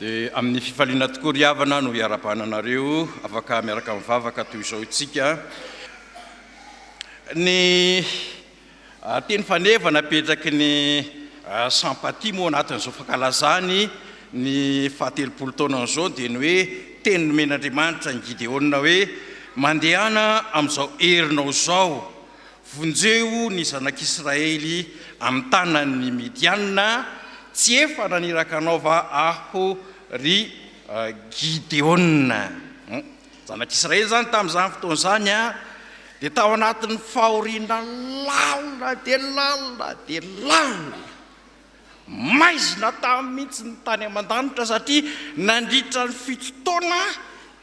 Dia amin'ny fifaliana tokoa ry havana no iarabana anareo afaka miaraka mivavaka toy izao isika. Ny Teny faneva napetraky ny Sampati moa anatin'izao fankalazany ny fahatelopolo taonany izao dia ny hoe teny nomen'Andriamanitra an'i Gideona hoe, Mandehana amin'izao herinao izao, vonjeo ny zanak'Israely amin'ny tanan'ny Midianina, tsy efa naniraka anao va aho, ry Gideona? Zanak'Israely izany tamin'izany fotoana izany dia tao anatin'ny fahoriana lalina dia lalina dia lalina. Maizina taminy mihitsy ny tany aman-danitra satria nandritra ny fito taona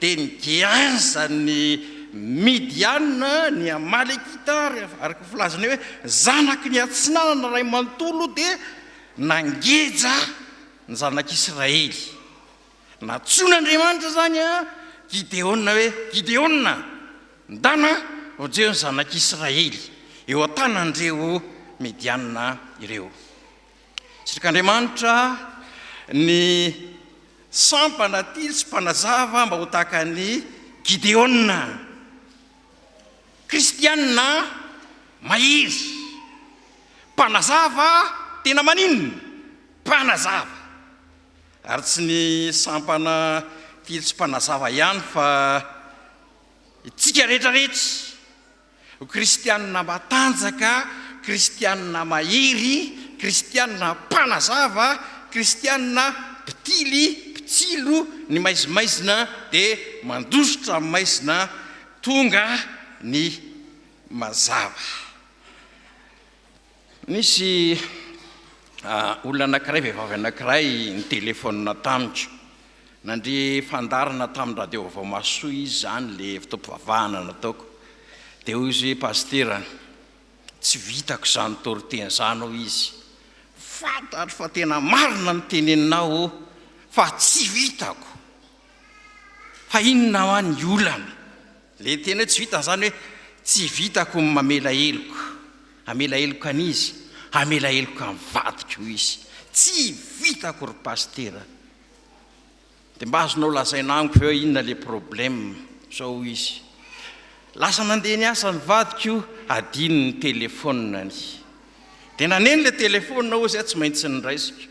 dia nigeazan'ny Midianina, ny Amalekita, araka ny filazana hoe zanaky ny Atsinanana iray manontolo dia nangeja ny zanak'Israely. Nantsoin'Andriamanitra izany an Gideona hoe, Gideona, ndana ho jeo ny zanak'Israely eo an-tanan'ireo Mediana ireo. Sitrik'Andriamanitra ny sampana tily sy mpanazava mba ho tahaka an'i Gideona. Kristiana mahery, mpanazava tena maninona? Mpanazava. Ary tsy ny sampana Fields mpanazava ihany fa itsika rehetra rehetra ho kristianina matanjaka, kristianina mahery, kristianina mpanazava, kristianina mpitily, mpitsilo ny maizimaizina dia mandositra amin'ny maizina tonga ny mazava. Nisy olona anankiray, vehivavy anankiray nitelefaonina tamiko. Nandre fandaharana tamin'ny radio Vaovao Mahasoa izy izany ilay fotoam-pivavahana nataoko. Dia hoy izy hoe, Pasitera, tsy vitako izany toriteny izany, hoy izy. Fantatro fa tena marina ny teneninao, oh, fa tsy vitako. Fa inona hoa ny olana? Le teny hoe tsy vitany zany hoe tsy vitako ny mamela heloka, hamela heloka an'izy, hamela heloka ny vadiko hoy izy, tsy vitako ry Pasitera, de mba azonao lazaina amiko ve hoe inona le problème, zao hoy izy, lasa nandeha niasa ny vadiko, adino ny telephone-ny, de naneno le telephone aho zay tsy maintsy niraisiko,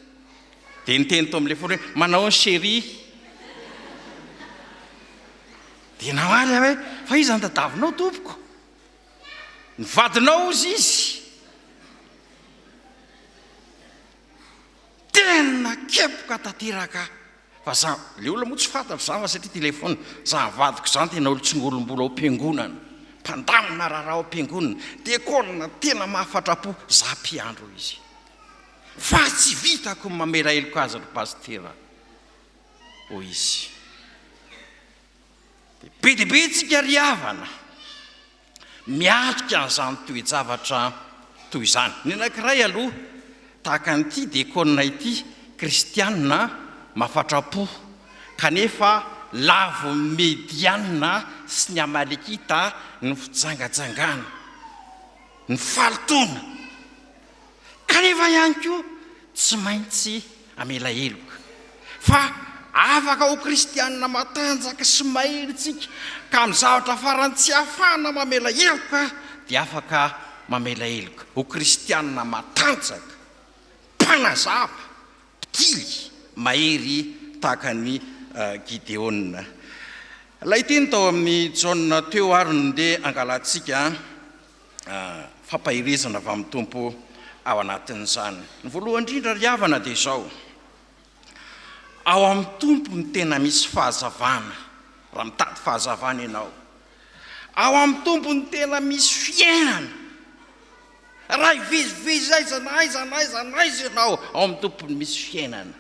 de niteny tao amle phone hoe, manao ahoana chérie? Dia namaly aho hoe, Fa iza ny tadavinao, tompoko? Ny vadinao, hozy izy. Tena kepoka tanteraka aho, fa za, ilay olona moa tsy fantatro izany fa satria telefaonina, za nivadiko izany dia naolo tsingolom-bolo ao am-piangonana, mpandamina raharaha ao am-piangonana, dia kolona tena mahafatra-po, za mpiandry, hoy izy. Fa tsy vitako ny mamela heloka azy, ry Pasitera. hoy izy. Dia be dia be isika ry havana miatrika an'izany toe-javatra toy izany. Ny anankiray aloha tahaka an'ity diakonina ity, kristiana mafatra-po kanefa lavo ny Mediana sy ny Amalekita ny fijangajangana, ny fahalotoana. kanefa ihany koa tsy maintsy hamela heloka fa afaka ho kristianina matanjaka sy mahery isika ka amin'ny zavatra farany tsy ahafahana mamela heloka dia afaka mamela heloka ho kristianina matanjaka mpanazava mpitily mahery tahaka an'i Gideona. Ilay teny tao amin'ny Jaona teo ary no ndeha hangalantsika an. fampaherezana avy amin'ny Tompo ao anatin'izany. Ny voalohany indrindra ry havana dia izao, ao amin'ny Tompo no tena misy fahazavana, raha mitady fahazavana ianao. Ao amin'ny Tompo no tena misy fiainana. Raha hivezivezy aiza na aiza na aiza na aiza ianao, ao amin'ny Tompo no misy fiainana.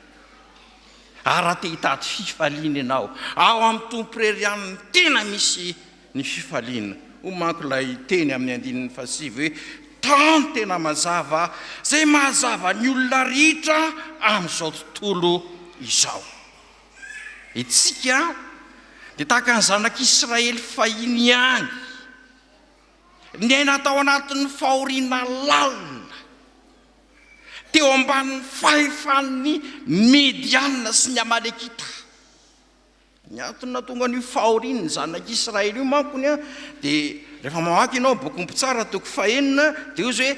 Ary raha te hitady fifaliana ianao, ao amin'ny Tompo irery ihany no tena misy ny fifaliana. Hoy manko ilay teny amin'ny andininy fahasivy hoe, Tano tena mazava izay mahazava ny olona rehetra amin'izao tontolo izao. Isika dia tahaka ny zanak'Israely fahiny ihany, niaina tao anatin'ny fahoriana lalina, teo ambanin'ny fahefan'ny Medianina sy ny Amalekita. Ny antony nahatonga an'io fahorian'ny zanak'Israely io manko ny a, dia rehefa mamaky ianao bokin'ny Mpitsara toko fahenina, dia hoy izy hoe,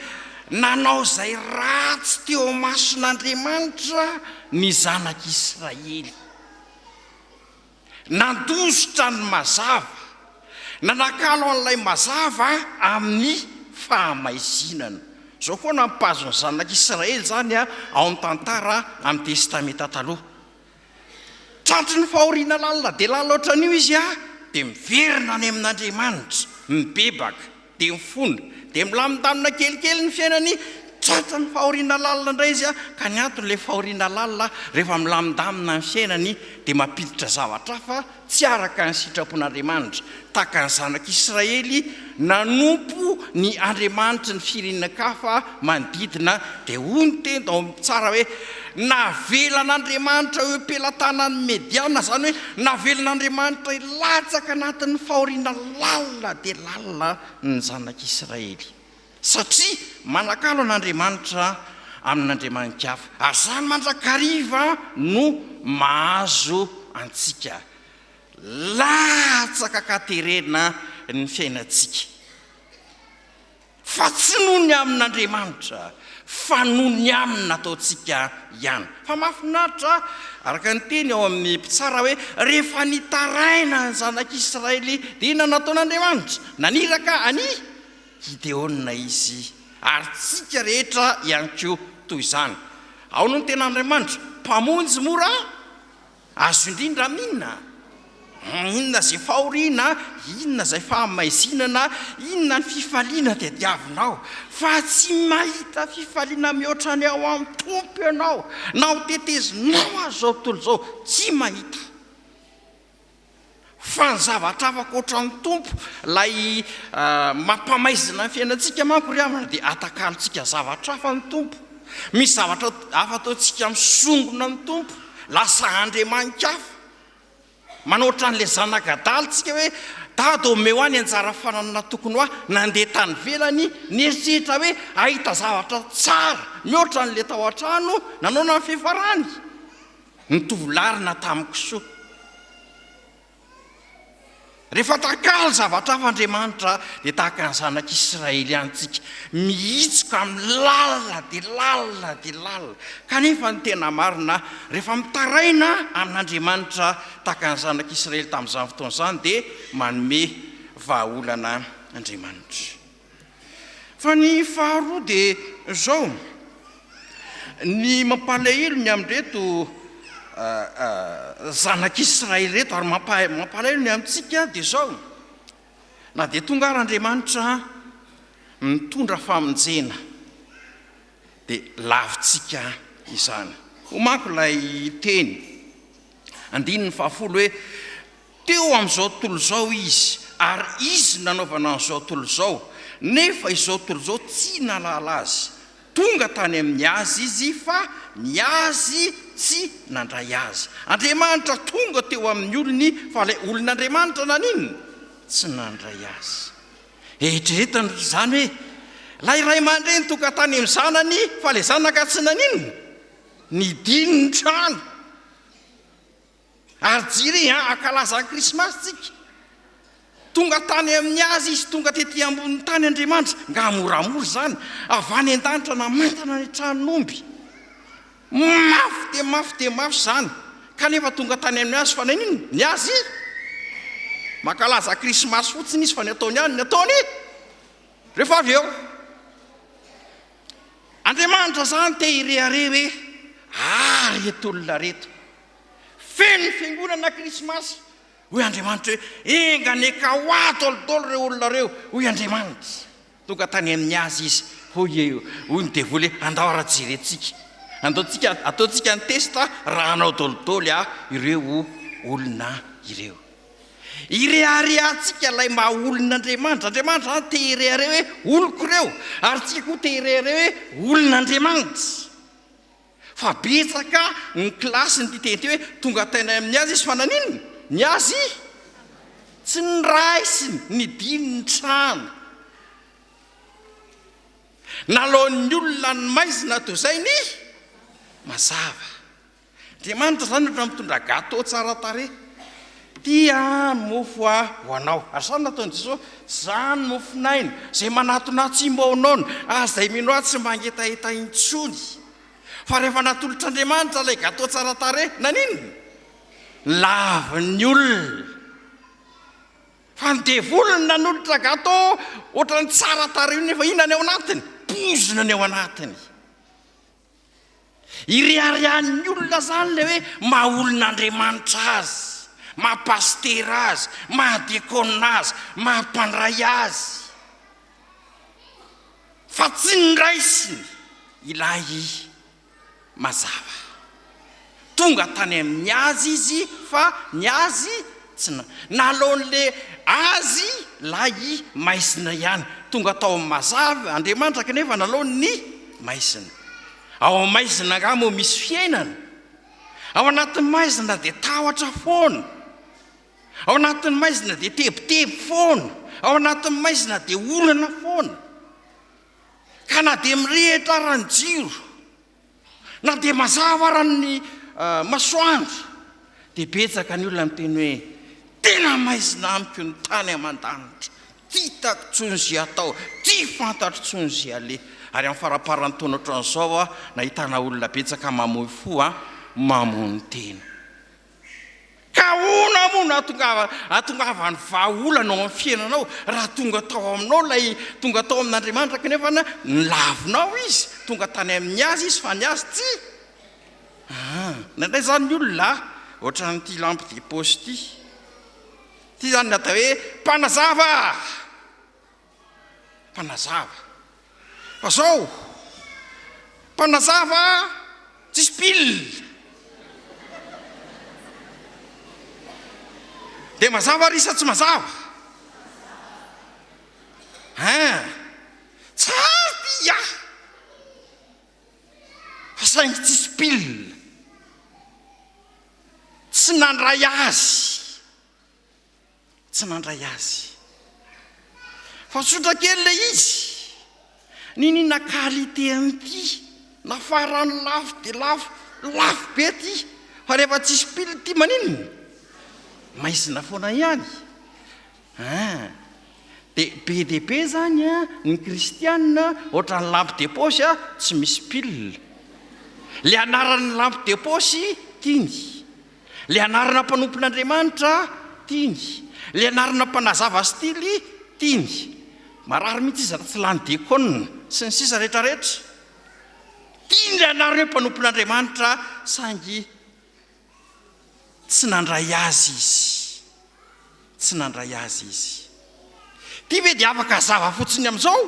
Nanao izay ratsy teo imason'Andriamanitra ny zanak'Israely. Nandositra ny mazava. Nanakalo an'ilay mazava amin'ny fahamaizinana. Izao koa nampahazo ny zanak'Israely izany ao amin'ny tantara amin'ny Testamenta Taloha. Tratry ny fahoriana lalina dia lalina ohatran'io izy a! dia miverina any amin'Andriamanitra, mibebaka, dia mifona, dia milamindanina kelikely ny fiainany, tratry ny fahoriana lalina indray izy a! ka ny antony ilay fahoriana lalina rehefa milamindamina ny fiainany dia mampiditra zavatra hafa Tsy araka ny sitrapon'Andriamanitra, tahaka ny zanak'Israely nanompo ny andriamanitry ny firenenankafa manodidina, dia hoy ny teny tao amin'ny Psalm hoe, Navelan'Andriamanitra eo am-pelatanan'ny Mediana, izany hoe navelan'Andriamanitra hilatsaka anatin'ny fahoriana lalina dia lalina ny zanak'Israely. Satria manakalo an'Andriamanitra amin'andriamani-kafa. Ary izany mandrakariva no mahazo antsika. Latsaka an-katerena ny fiainantsika. Fa tsy noho ny amin'Andriamanitra, fa noho ny amin'ny nataontsika ihany. Fa mahafinaritra araka ny teny ao amin'ny mpitsara hoe, rehefa nitaraina ny zanak'Israely dia nanao taon'Andriamanitra, naniraka an'i. Gideona izy, ary tsika rehetra ihany koa toy izany. Ao no ny tena Andriamanitra, Mpamonjy mora azo indrindra amina. Inona izay fahoriana, inona izay fahamaizinana, inona ny fifaliana tadiavinao, fa tsy mahita fifaliana mihoatra ny ao amin'ny Tompo ianao, na ho tetezinao aza izao tontolo izao, tsy mahita. Fa ny zavatra hafa ankoatra ny Tompo, Ilay mampamaizina ny fiainantsika manko ry havana dia atakalontsika zavatra hafa ny Tompo. Misy zavatra hafa ataontsika misongona ny Tompo, lasa andriamani-kafa. Manao ohatran'ilay zanak'adala tsika hoe Dada ô omeo ahy ny anjara fananana tokony ho ahy, nandeha tany ivelany, nieritreritra hoe hahita zavatra tsara mihoatra an'ilay tao an-trano, nanao na ny fiafarany. Nitovy larina tamiko soa. Rehefa takalo zavatra hafa Andriamanitra dia tahaka ny zanak' Israely ihany tsika, mihitsoka amin'ny lalina dia lalina dia lalina. Kanefa ny tena marina, rehefa mitaraina amin' Andriamanitra tahaka ny zanak' Israely tamin'izany fotoana izany dia manome vahaolana Andriamanitra. Fa ny faharoa dia izao, ny mampalahelo ny amin'ireto zanak'Israely ireto ary mampalahelo ny amintsika dia izao, na dia tonga ary Andriamanitra mitondra famonjena dia lavintsika izany. Hoy manko ilay teny, andininy fahafolo hoe. Teo amin'izao tontolo izao izy, ary izy no nanaovana an'izao tontolo izao, nefa izao tontolo izao tsy nahalala azy. Tonga tany amin'ny azy izy, fa ny azy tsy nandray azy. Andriamanitra tonga teo amin'ny olony, fa ilay olon'Andriamanitra naninona? Tsy nandray azy. Eritreretano ry izany hoe, ilay ray aman-dreny tonga tany amin'ny zanany, fa ilay zanaka tsy naninona? Nidino ny trano. Ary jiri an, ankalaza ny krismasy tsika, tonga tany amin'ny azy izy, tonga tety ambonin'ny tany Andriamanitra, nga moramora izany, avy any an-danitra namantana ny tranon'omby, mafy dia mafy dia mafy izany, kanefa tonga tany amin'ny azy, fa naninona? ny azy, mankalaza krismasy fotsiny izy, fa ny ataony ihany ny ataony, rehefa avy eo, Andriamanitra izany te hirehareha hoe, ary reto olona reto, Feno ny fiangonana krismasy. Hoy Andriamanitra hoe, Enga anie ka ho ato alo-dolo ireo olona ireo, hoy Andriamanitra. Tonga tany amin'ny azy izy. Hoy e, hoy ny devoly hoe, Andao ary jerentsika. Andao tsika, ataontsika ny test raha hanao dolidoly aho ireo olona ireo. Ireharehantsika ilay maha olon'Andriamanitra. Andriamanitra izany te hirehareha hoe oloko ireo, ary tsika koa te hirehareha hoe olon'Andriamanitra. Fa betsaka ny kilasy nitete hoe tonga tainay amin'ny azy izy fa naninona? Ny azy tsy noraisiny, nidiny ny trano. Nalaon'ny olona ny maizina toy izay ny mazava. Andriamanitra izany ohatran'ny mitondra gâteau tsara tarehy. Tia mofo aho ho anao. Ary izany no nataon'i Jesoa, Izany mofon'aina, izay manatona ahy tsy mba ho noana, ary izay mino ahy tsy mba hangetaheta intsony. Fa rehefa natolotr'Andriamanitra ilay gateau tsara tarehy, naninona? Lavin'ny olona. Fa ny devoly no nanolotra gateau ohatran'ny tsara tarehy io, nefa inona ny ao anatiny? Poizina ny ao anatiny. Ireharehan'ny olona izany ilay hoe maha olon'Andriamanitra azy, maha pasitera azy, maha diakona azy, maha mpandray azy. Fa tsy ny raisiny ilay mazava. Tonga tany amin'ny azy izy fa ny azy tsy na. Nalao an'le azy lahy i maizina ihany. Tonga tao amin'ny mazava Andriamanitra kanefa nalao ny maizina. Ao amin'ny maizina angaha moa misy fiainana? Ao anatin'ny maizina dia tahotra foana. Ao anatin'ny maizina dia tebiteby foana. Ao anatin'ny maizina dia orana foana. Ka na dia mirehitra ara ny jiro. Na dia mazava ara ny masoandro dia betsaka ny olona miteny hoe tena maizina amiko ny tany aman-danitra, tsy hitako tsony ze atao, tsy fantatro tsony ze aleha. Ary amin'ny faramparan'ny taona otran'izao aho nahitana olona betsaka mamoy fo an, mamono tena. Ka ahoana moa no hahatongavan'ny vahaolana ao amin'ny fiainanao raha tonga tao aminao ilay tonga tao amin'Andriamanitra kanefa nolavinao izy, tonga tany amin'ny azy izy fa ny azy tsy aa indraindray izany ny olona a ohatran'ity lampe de poche ity, ity izany ny atao hoe mpanazava. Mpanazava. Fa zao, mpanazava tsisy pile. De mazava ary sa tsy mazava? Hein! Tsara ty ya! Fa saingy tsisy pile. Tsy nandray azy. tsy nandray azy fa tsotra kely ilay izy, niniana qualité an'ity na farany lafo dia lafo, lafo be ity fa rehefa tsisy pile ity maninona? maizina foana ihany an! dia be dia be izany an ny kristiana ohatran'ny lampe de poche an tsy misy pile, ilay anaran'ny lampe de poche tiany, Ilay anarana mpanompon'Andriamanitra tiany. Ilay anarana mpanazava stily tiany. Marary mihitsy izy raha tsy lany diakona sy ny sisa rehetra rehetra. Tiany ilay anarana hoe mpanompon'Andriamanitra saingy tsy nandray azy izy. Tsy nandray azy izy. Ity ve dia afaka hazava fotsiny amin'izao?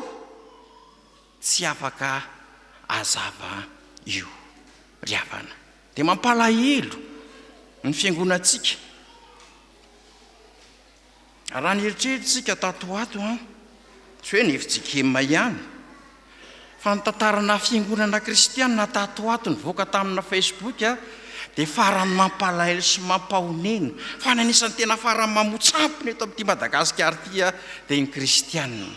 Tsy afaka azava io ry havana. Dia mampalahelo ny fiangonantsika. Raha nieritrerittsika tato ho ato an, tsy hoe ny fjkm ihany, fa ny tantarana fiangonana kristianina tato ho ato nivoaka tamina facebook dia farany mampalahelo sy mampahonena. Fa ny anisan'ny tena farany mamotsampona eto amin'ity Madagasikara ity dia ny kristianina.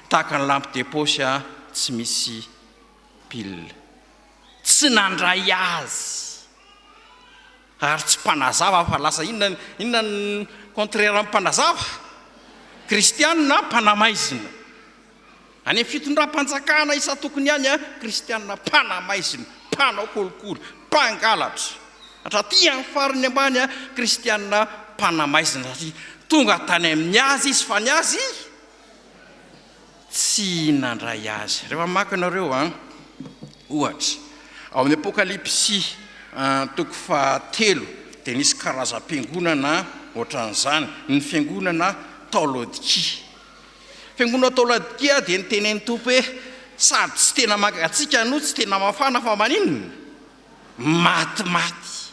Tahaka ny lampe de poche tsy misy pile. Tsy nandray azy. Ary tsy mpanazava fa lasa inona inona ny contraire amin'ny mpanazava? Kristianina mpanamaizina. Any amin'ny fitondram-panjakana isan-tokony any, kristianina mpanamaizina, mpanao kolikoly, mpangalatra. Hatraty amin'ny farany ambany, kristianina mpanamaizina satria tonga tany amin'ny azy izy fa ny azy tsy nandray azy. Rehefa mamaky ianareo, ohatra, ao amin'ny Apokalypsy toko fahatelo, dia nisy karazam-piangonana ohatran'izany, ny fiangonana tao Laodikia. Fiangonana tao Laodikia dia nitenenin'ny Tompo hoe, sady tsy tena mangatsiaka no tsy tena mafana fa maninona? Matimaty.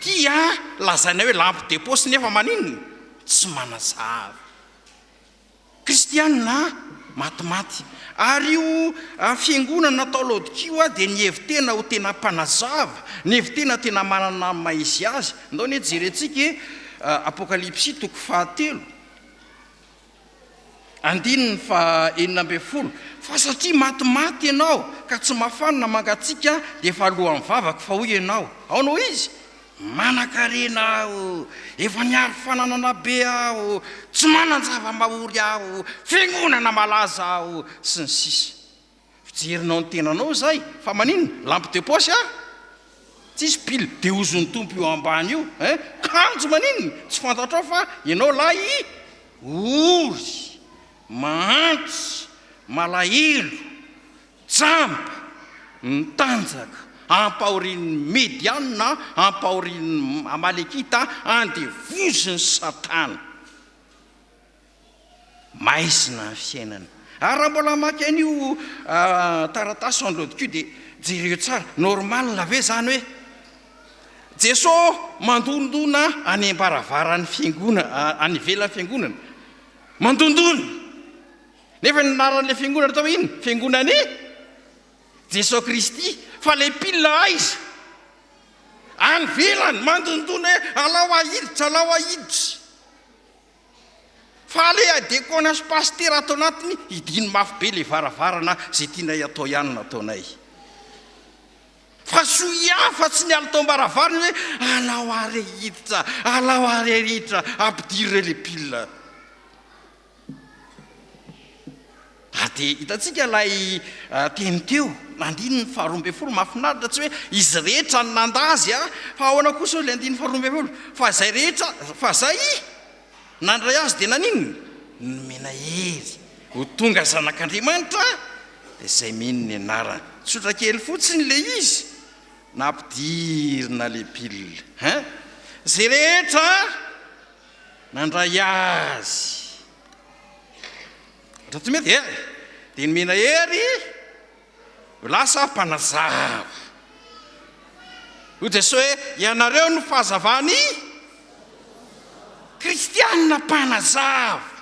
Ty a lazaina hoe lampe de poche nefa maninona? Tsy manazava. Kristiana matimaty. Ary io fiangonana natao Laodikia io a dia nihevi-tena ho tena mpanazava, nihevi-tena tena manana ny maha izy azy. Ndao anie jerentsika e Apokalypsy toko fahatelo. Andininy faha enina ambin'ny folo, Fa satria matimaty ianao ka tsy mafana na mangatsiaka dia efa alohan'ny vavako, fa hoy ianao, Aona ho izy? Manan-karena aho, efa niaro fananana be aho, tsy manan-java-mahory aho, fiangonana malaza aho, sy ny sisa. Fijerinao ny tenanao izay fa maninona? Lampe de poche a? Tsisy pile de hozon'ny Tompo io ambany io eh! Kanjo maninona? Tsy fantatrao fa ianao lahy ory, mahantra, malahelo, jamba, mitanjaka, ampahorian'ny Mediana, ampahorian'ny Amalekita, andevozin'i Satana. Maizina ny fiainana. Ary raha mbola hamaky an'io taratasy sans le docu dia jereo tsara, normal ve zany hoe Jesoa mandondona any ambaravaran'ny fiangona, any ivelan'ny fiangonana, mandondona, nefa ny anaran'ilay fiangonana tao inona? Fiangonan'i Jesoa Kristy, fa ilay mpila aiza? Any ivelany, mandondona hoe alao ahiditra, alao ahiditra. Fa le adekona sy pasitera ato anatiny hidiny mafy be le varavarana ze tianay atao ihany no ataonay fa soa ihany fa tsy ny alitaom-baravarana hoe alao are hiditra alao are ary hiditra ampidiry re le pile Ary dia hitantsika ilay teny teo, na andininy faharoa ambin'ny folo, mahafinaritra, tsy hoe izy rehetra no nanda azy a! Fa ahoana kosa hoy ilay andininy faharoa ambin'ny folo? Fa izay rehetra, fa izay nandray azy dia naninona? Nomena hery ho tonga zanak'Andriamanitra, dia izay mino ny anarany. Tsotra kely fotsiny ilay izy, nampidirina le pil. Hein? Izay rehetra nandray azy. Raha tsy mety dia dia nomena hery ho lasa mpanazava. Hoy Jesoa hoe, Ianareo no fahazavan'ny kristiana mpanazava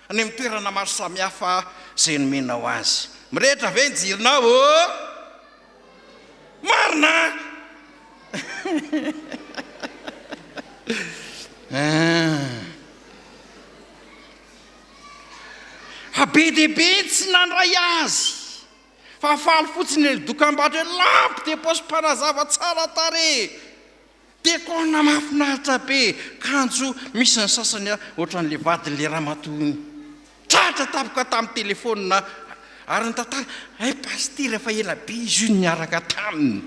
any amin'ny toerana maro samihafa izay nomenao azy. Mirehitra ve ny jironao ô? Marina Fa be dia be ny tsy nandray azy fa faly fotsiny ilay dokambarotra hoe Lampe de poche mpanazava tsara tarehy. Dekona mahafinaritra be kanjo misy ny sasany a ohatran'le vadin'le ramatoa iny tratra tampoka tamin'ny telefonina ary ny tantara hay pasitera efa ela be izy io no niaraka taminy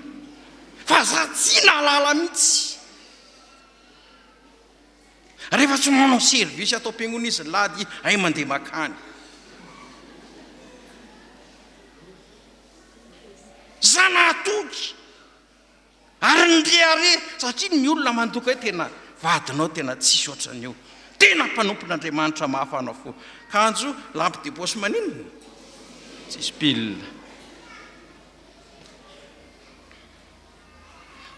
fa za tsy nahalala mitsy rehefa tsy manao service ato am-piangona izy ny lady hay mandeha makany za nahatoky Ary ny rehareha satria ny olona mandoka hoe tena vadinao tena tsisy ohatran'io tena mpanompon'Andriamanitra mahafana fo kanjo lampe de poche maninona tsisy pile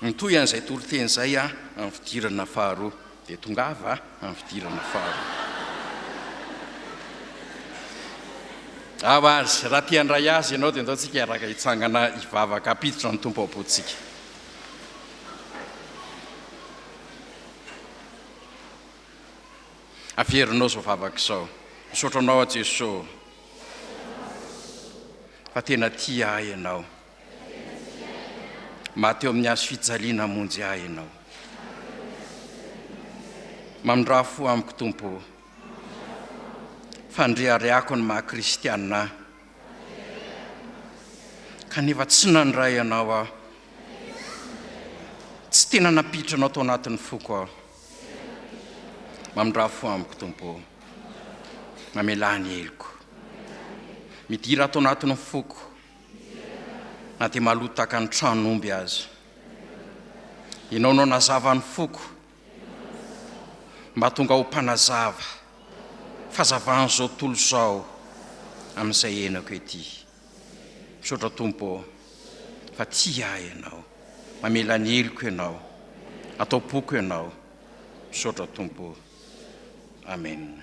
Mitohy an'izay toriteny izay aho amin'ny fidirana faharoa. Dia tongava amin'ny fidirana faharoa. Ao azy, raha tia handray azy ianao dia ndao tsika hiaraka hitsangana hivavaka hampiditra ny Tompo am-pontsika. Averinao izao vavaka izao. Misaotra anao aho Jeso fa tena tia ahy ianao. Maty eo amin'ny hazo fijaliana hamonjy ahy Ianao. Mamindrà fo amiko Tompo ô. Fandriariako ny maha kristianina ahy. Kanefa tsy nandray Anao aho. Tsy tena nampiditra Anao tao anatin'ny foko aho. Mamindrà fo amiko Tompo ô. Mamelà ny heloko. Midira ato anatin'ny foko. Na dia maloto tahaka ny tran'omby aza Ianao no nazava ny foko Mba tonga ho mpanazava Fazavan'izao tontolo izao Amin'izay henoko ety Misaotra Tompo ô Fa tia ahy Ianao Mamela ny heloko Ianao Atao-poko Ianao Misaotra Tompo ô Amen